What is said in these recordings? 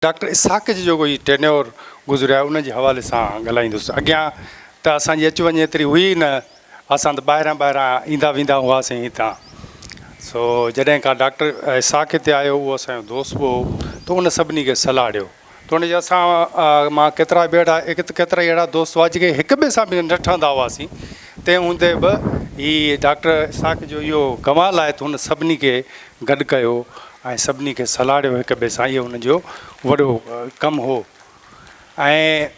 Doctor Ishaq جي جيڪو هي ٽينيور گذريو آهي ان جي حوالي سان ڳالهائيندس اڳيان ته اسان جي اچ وڃ ايتري هئي نه اسان ته ٻاهران ٻاهران ايندا ويندا هئاسين هتان سو جڏهن کان ڊاڪٽر اسحاق هتي آيو هو اسان جو دوست به هو ته ان سڀني کي صلاح ڏيو ته ان جي اسان مان ڪيترا به اهڙا ڪيترا ئي اهڙا دوست هئا جيڪي هڪ ٻئي سان به نه ٺهندا هئاسين تنهن هوندي به هي ڊاڪٽر اسحاق جو اهو ڪمال آهي ته هن سڀني کي گڏ ڪيو ۽ سڀني کي سلهاڙيو هڪ ٻئي سان اهو ان جو وڏو ڪم هو ۽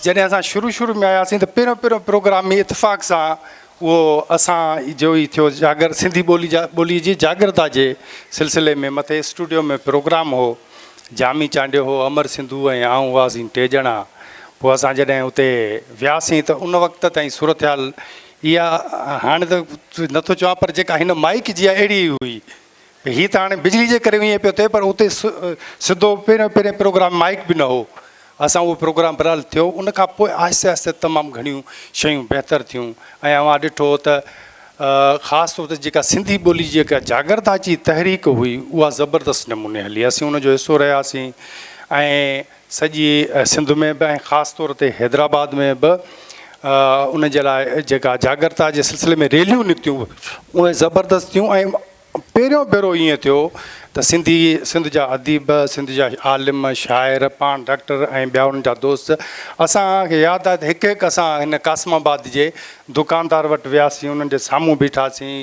جڏهن اسان شروع شروع ۾ آياسين ته پهريون پهريون پروگرام ئي اتفاق سان اهو اسان جو ئي ٿيو جاگر سنڌي ٻولي جا ٻولي جي جاگرتا جي سلسلي ۾ مٿي اسٽوڊيو ۾ پروگرام هو جامي چانڊيو هو امر سنڌو ۽ آئون هئاسين ٽي ڄڻا پوء اسان جڏهن اتي وياسين ته ان وقت تائين صورتحال اها هاڻي ته نٿو چوان پر جيڪا هن مائيڪ جي اهڙي ئي هئي هي ته هاڻي بجلي جي ڪري ائين پيو ٿئي پر اتي سڌو پهريون پهرين پروگرام مائيڪ به نه هو اسان اهو پروگرام برحال ٿيو ان کان پوء آهستي آهستي تمام گهڻيون شيون بهتر ٿيون ۽ اوهان ڏٺو ته خاص طور تي جيڪا سنڌي ٻولي جي جيڪا جاگرتا جي تحريڪ هئي اها زبردست نموني هلي اسين ان جو حصو رهياسين ۽ سڄي سنڌ ۾ به ۽ خاص طور تي حيدرآباد ۾ به ان جي لاء جيڪا جاڳرتا جي سلسلي ۾ ريليون نڪتيون اهي زبردست ٿيون ۽ پهريون ڀيرو ائين ٿيو ته سنڌي سنڌ جا اديب سنڌ جا عالم شاعر پاڻ ڊاڪٽر ۽ ٻيا انهن جا دوست اسان کي ياد آهي ته هڪ هڪ اسان هن قاسم آباد جي دڪاندار وٽ وياسين انهن جي سامهون بيٺاسين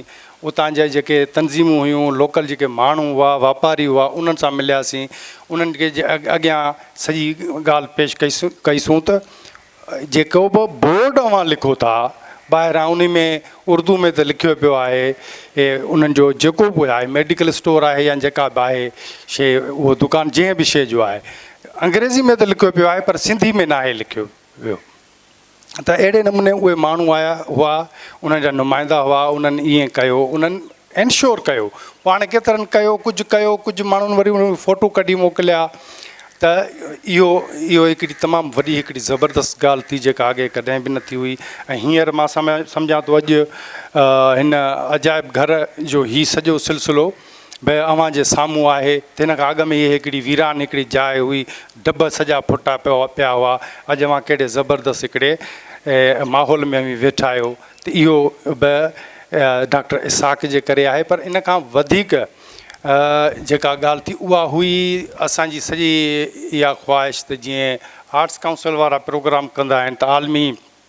اتان جا جيڪي تنظيمون هيون، لوڪل جيڪي ماڻهو هئا، واپاري هئا، انهن سان ملياسين. انهن کي اڳيان سڄي ڳالهه پيش ڪئيسون ته جيڪو به بورڊ اوهان لکو ٿا، ٻاهران انهي ۾ اردو ۾ ته لکيو پيو آهي، انهن جو جيڪو به آهي ميڊيڪل اسٽور آهي يا جيڪا به آهي شيء، اهو دڪان جنهن به شيء جو آهي، انگريزي ۾ ته لکيو پيو آهي پر سنڌي ۾ ناهي لکيو ويو. ته اهڙي نموني اهي ماڻهو آيا هئا انهن جا نمائندا هئا انهن ائين ڪيو انهن انشور ڪيو پاڻ ڪيترن ڪيو ڪجهه ڪيو ڪجهه ماڻهن وري انهن فوٽو ڪڍي موڪليا ته اهو اهو هڪڙي تمام وڏي هڪڙي زبردست ڳالهه ٿي جيڪا اڳي ڪڏهن به نه ٿي هئي ۽ هينئر مان سمجهان ٿو اڄ هن عجائب گهر جو هي سڄو سلسلو به اوهان جي سامهون آهي ته هن کان اڳ ۾ هيء هڪڙي ويران هڪڙي جاء هئي، دٻ سڄا ڦٽا پيا هئا، اڄ اوهان ڪهڙي زبردست هڪڙي ماحول ۾ اوهين ويٺا آهيو ته اهو به ڊاڪٽر اسحاق جي ڪري آهي پر ان کان وڌيڪ جيڪا ڳالهه ٿي اها هئي اسان جي سڄي اها خواهش ته جيئن آرٽس ڪائونسل وارا پروگرام ڪندا آهن ته عالمي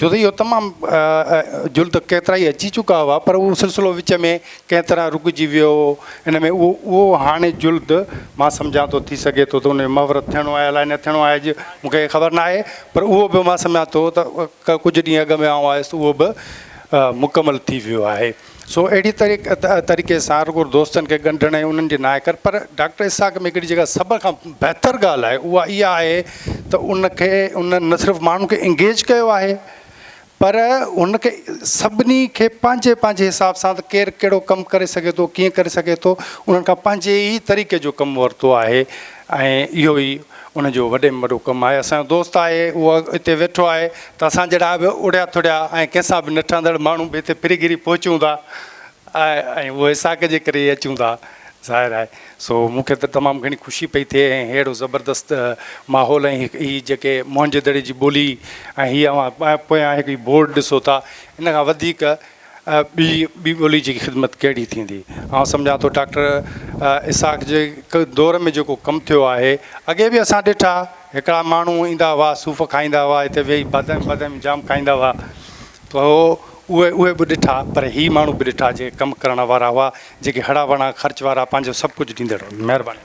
ڇو ته اهو تمام جلد ڪيترائي اچي چڪا هئا پر اهو سلسلو وچ ۾ ڪنهن طرح رڪجي ويو هو ان ۾ اهو اهو هاڻي جلد مان سمجهان ٿو ٿي سگهي ٿو ته ان جو مهورت ٿيڻو آهي الاء نه ٿيڻو آهي اڄ مون کي خبر نه آهي پر اهو به مان سمجهان ٿو ته ڪجهه ڏينهن اڳ ۾ آئون آيس اهو به مڪمل ٿي ويو آهي سو اهڙي طريقي سان رڳو دوستن کي ڳنڍڻ ۽ انهن جي ناهي ڪرڻ پر ڊاڪٽر اسحاق ۾ هڪڙي جيڪا سڀ کان بهتر ڳالهه آهي اها اها آهي ته ان کي ان نه صرف ماڻهن کي انگيج ڪيو آهي پر ان کي سڀني کي پنهنجي پنهنجي حساب سان ته ڪير ڪهڙو ڪم ڪري سگهي ٿو ڪيئن ڪري سگهي ٿو انهن کان پنهنجي ئي طريقي جو ڪم ورتو آهي ۽ اهو ئي ان جو وڏي ۾ وڏو ڪم آهي. اسان جو دوست آهي، اهو اتي ويٺو آهي ته اسان جهڙا به اڙهيا ٿڙهيا ۽ ڪنهن سان به نه ٺهندڙ ماڻهو به هتي ڦري گهري پهچون ٿا ۽ اهو اسحاق جي ڪري ئي اچون ٿا ظاهر آهي. سو مون کي ته تمام گهڻي خوشي پئي ٿئي ۽ ههڙو زبردست ماحول ۽ هي جيڪي موهن جو دڙي جي ٻولي ۽ هي اوهان پويان هڪ هي بورڊ ڏسو ٿا ان کان وڌيڪ ٻي ٻي ٻولي جي خدمت ڪهڙي ٿيندي؟ آئون سمجهان ٿو ڊاڪٽر اسحاق جي دور ۾ جيڪو ڪم ٿيو آهي، اڳي به اسان ڏٺا هڪڙا ماڻهو ايندا هئا صوف کائيندا هئا هتي ويهي بادام بادام جام کائيندا هئا ته هو اهي اهي به ڏٺا پر هي ماڻهو به ڏٺا جي ڪم ڪرڻ وارا هئا جيڪي هڙا وڙا خرچ وارا پنهنجو سڀ ڪجهه ڏيندڙ مهرباني.